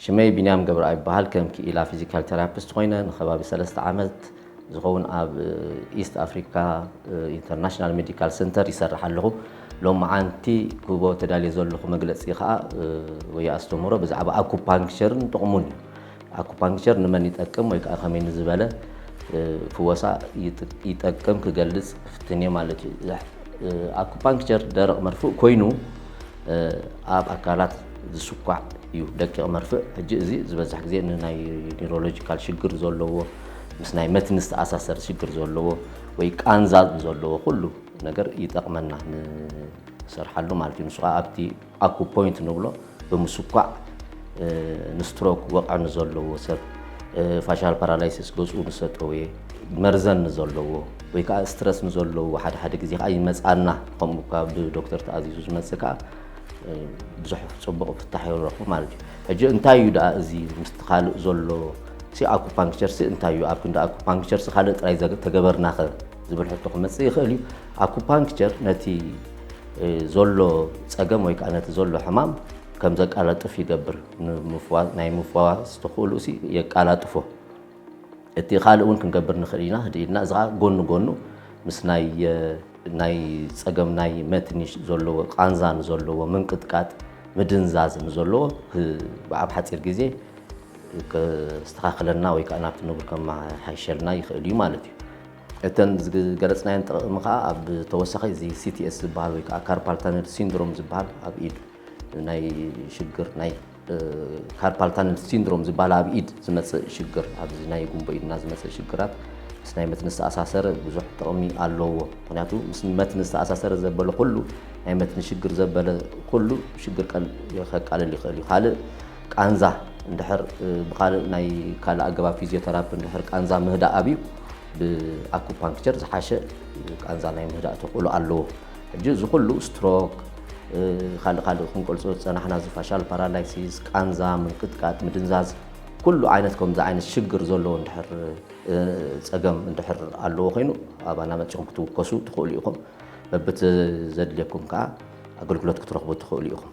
ሽመይ ቢንያም ገብረኣብ ይበሃል። ከም ክኢላ ፊዚካል ቴራፒስት ኾይነ ንከባቢ ሰለስተ ዓመት ዝኸውን ኣብ ኢስት ኣፍሪካ ኢንተርናሽናል ሜዲካል ሰንተር ይሰርሕ ኣለኹ። ሎማዓንቲ ክህቦ ተዳልየ ዘለኹ መግለፂ ከዓ ወይ ኣስተምህሮ ብዛዕባ ኣኩፓንክቸርን ጥቕሙን እዩ። ኣኩፓንክቸር ንመን ይጠቅም ወይ ከዓ ከመይ ንዝበለ ፍወሳ ይጠቅም ክገልፅ ክፍትን እየ ማለት እዩ። ኣኩፓንክቸር ደረቕ መርፍእ ኮይኑ ኣብ ኣካላት ዝስኳዕ እዩ ደቂቕ መርፍእ ሕጂ እዚ ዝበዝሕ ግዜ ንናይ ኒሮሎጂካል ሽግር ዘለዎ ምስ ናይ መትኒ ዝተኣሳሰር ሽግር ዘለዎ ወይ ቃንዛ ዘለዎ ኩሉ ነገር ይጠቕመና ንሰርሓሉ ማለት እዩ ንሱ ከዓ ኣብቲ ኣኩ ፖይንት ንብሎ ብምስኳዕ ንስትሮክ ወቕዕ ንዘለዎ ሰብ ፋሻል ፓራላይሲስ ገፁ ንሰጠወየ መርዘን ንዘለዎ ወይ ከኣ ስትረስ ንዘለዎ ሓደ ሓደ ግዜ ከኣ ይመጽኣና ከምኡ እኳ ብዶክተር ተኣዚዙ ዝመጽእ ከኣ ብዙሕ ጽቡቕ ፍታሕ ይረኽቡ ማለት እዩ ሕጂ እንታይ እዩ ደኣ እዚ ምስቲ ካልእ ዘሎ ሲ ኣኩፓንክቸርሲ እንታይ እዩ ኣብ ክንዲ ኣኩፓንክቸርሲ ካልእ ጥራይ ተገበርናኸ ዝብል ሕቶ ክመጽእ ይኽእል እዩ ኣኩፓንክቸር ነቲ ዘሎ ጸገም ወይ ከዓ ነቲ ዘሎ ሕማም ከም ዘቃላጥፍ ይገብር ናይ ምፍዋስ ተኽእሉ የቃላጥፎ እቲ ካልእ እውን ክንገብር ንኽእል ኢና ህድእ ኢልና እዚ ከዓ ጎኑ ጎኑ ምስ ናይ ናይ ፀገም ናይ መትኒ ዘለዎ ቃንዛ ንዘለዎ ምንቅጥቃጥ ምድንዛዝ ንዘለዎ ኣብ ሓፂር ግዜ ከስተኻኽለና ወይ ከዓ ናብቲ ንቡር ከመሓይሸልና ይኽእል እዩ ማለት እዩ እተን ዝገለፅናየን ጥቕሚ ከዓ ኣብ ተወሳኺ እዚ ሲቲኤስ ዝበሃል ወይ ከዓ ካርፓል ተነል ሲንድሮም ዝበሃል ኣብ ኢድ ናይ ሽግር ናይ ካርፓል ታነል ሲንድሮም ዝበሃል ኣብ ኢድ ዝመፅእ ሽግር ኣብዚ ናይ ጉንቦ ኢድና ዝመፅእ ሽግራት ምስ ናይ መትኒ ዝተኣሳሰረ ብዙሕ ጥቕሚ ኣለዎ። ምክንያቱ ምስ መትኒ ዝተኣሳሰረ ዘበለ ኩሉ ናይ መትኒ ሽግር ዘበለ ኩሉ ሽግር ከቃልል ይኽእል እዩ። ካልእ ቃንዛ እንድሕር ብካልእ ናይ ካልእ ኣገባብ ፊዚዮተራፒ እንድሕር ቃንዛ ምህዳእ ኣብዩ ብኣኩፓንክቸር ዝሓሸ ቃንዛ ናይ ምህዳእ ተኽእሎ ኣለዎ። ሕጂ እዚ ኩሉ ስትሮክ ካልእ ካልእ ክንገልጾ ዝጸናሕና እዚ ፋሻል ፓራላይሲስ ቃንዛ ምንቅጥቃጥ ምድንዛዝ ኩሉ ዓይነት ከምዚ ዓይነት ሽግር ዘለዎ እንድሕር ጸገም እንድሕር ኣለዎ ኮይኑ ኣባና መጺኦም ክትውከሱ ትኽእሉ ኢኹም በብቲ ዘድልየኩም ከዓ ኣገልግሎት ክትረኽቡ ትኽእሉ ኢኹም